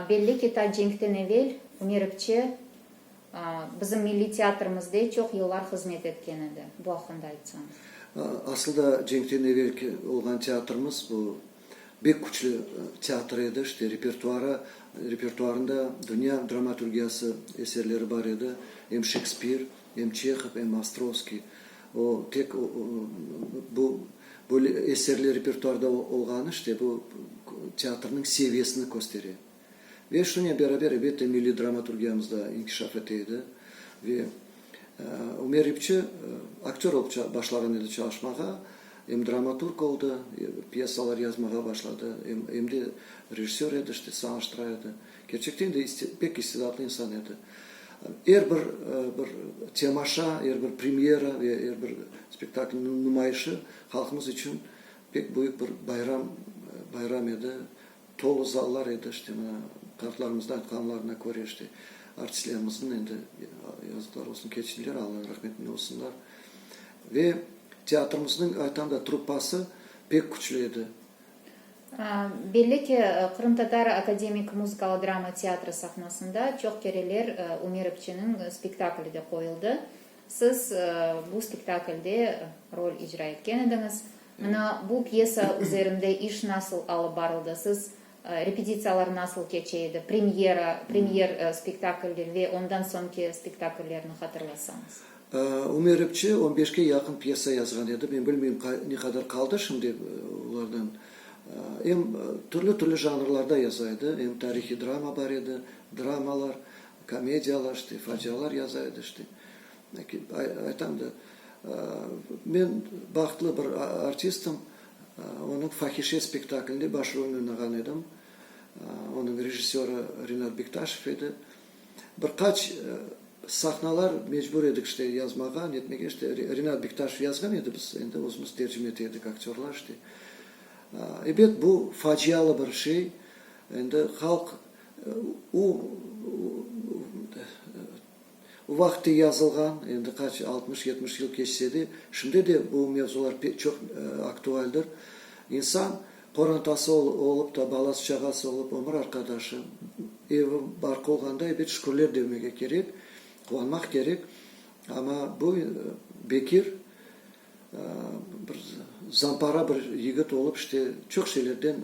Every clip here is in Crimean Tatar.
Belli ki, ta cenkten evel Meripçe bizim milliy teatrımızde çoq yıllar hızmet etken edi. Bu aqqında aytsañız. Asılda cenkten evelki olğan teatrımız bu bek küçlü teatr edi. İşte repertuarı, repertuarında dünya dramaturgiyası eserleri bar edi. Em Şekspir, Em Çehov, em Ostrovskiy, o, tek o, o, bu, böyle eserler repertuarda o, olğanı işte bu teatrnıñ seviyesini köstere. Ve şunen beraber, elbette, milliy dramaturgiyamız da inkişaf ete edi. Ve, e, Ümer İpçi aktör olıp ça, başlağan edi çalışmağa, em dramaturg oldı, e, pyesalar yazmağa başladı, em, em de rejissör edi, işte, sanaştıra edi. Kerçekten de pek istidadlı insan edi. Er bir bir temaşa, er bir premyera ve er bir spektaklniñ numayışı halqımız içün pek büyük bir bayram bayram edi. Tolu zallar edi, işte mına qartlarımıznıñ aytqanlarına köre, işte artistlerimizniñ endi yazıqlar olsun, keçtiler, Allanıñ rahmetinde olsunlar. Ve teatrımıznıñ, aytam da, truppası pek küçlü edi. Belli ki, qırımtatar akademik muzıkalı-drama teatri sahnasında çoq kereler Ümerovçeniñ spektakli de qoyuldı. Siz bu spektaklde rol icra etken ediñiz. Mına, bu pyesa üzerinde iş nasıl alıp barıldı? Siz, repetitsiyalar nasıl keçe edi? Premyera, premyer spektakldir ve ondan soñki spektakllerni hatırlasañız. Ümeripçi on beşke yaqın pyesa yazğan edi, men bilmeyim, ne qadar qaldı şimdi olardan. Em türlü-türlü janrlarda yaza edi, em tarihiy drama bar edi, dramalar, komediyalar, işte, facialar yaza edi, işte. Aytam da, men bahtlı bir artistim, onıñ Fahişe spektaklinde baş rolni oynağan edim. Onıñ rejissörı Rinat Bektaşev edi. Bir qaç sahnalar mecbur edik işte yazmağa, netmege, işte Rinat Bektaşev yazğan edi, biz endi özümiz tercime ete edik, aktyorlar işte. Ebet, bu facialı bir şey, endi halq o o vaqıtte yazılğan, endi qaç altmış, yetmiş yıl keçse de, şimdi de bu mevzular çoq aktualdir. İnsan. Qorantası olıp da, balası-çağası olıp, ömür arqadaşı, evi barkı olğanda, ebet, şükürler demege kerek, quvanmaq kerek. Amma bu bekir, bir zampara bir yigit olıp, işte, çoq şeylerden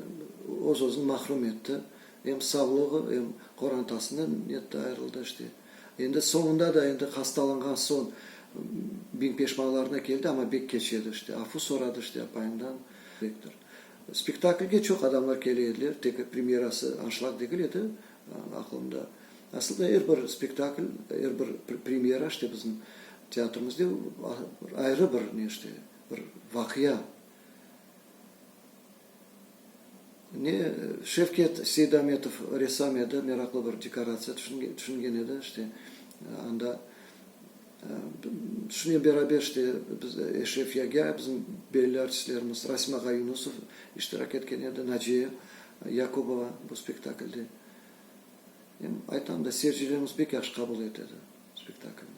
öz-özüni mahrum etti. Em savlığı, em qorantasından netti, ayırıldı, işte. Endi soñunda da, endi hastalanğan soñ biñ peşmanlarına keldi, amma bek keç edi, işte. Afu soradı, işte, apayından. Rektor. Spektaklge çoq adamlar kele ediler, tek premyerası, anşlag degil edi, aqılımda. Asılda er bir spektakl, er bir premyera, işte, bizim teatrımızde ayrı bir ne işte, bir vaqia. Ne Şevket Seydametov ressam edi, meraqlı bir dekoratsiya tüşüngen edi, işte, anda. Şunıñ beraber işte biz Eşref Yagâ, bizim belli artistlerimiz, Rasim ağa Yunusov iştirak etken edi, Naciye Yakubova bu spektaklde. Aytam da, seyircilerimiz pek yahşı qabul etedi spektaklni.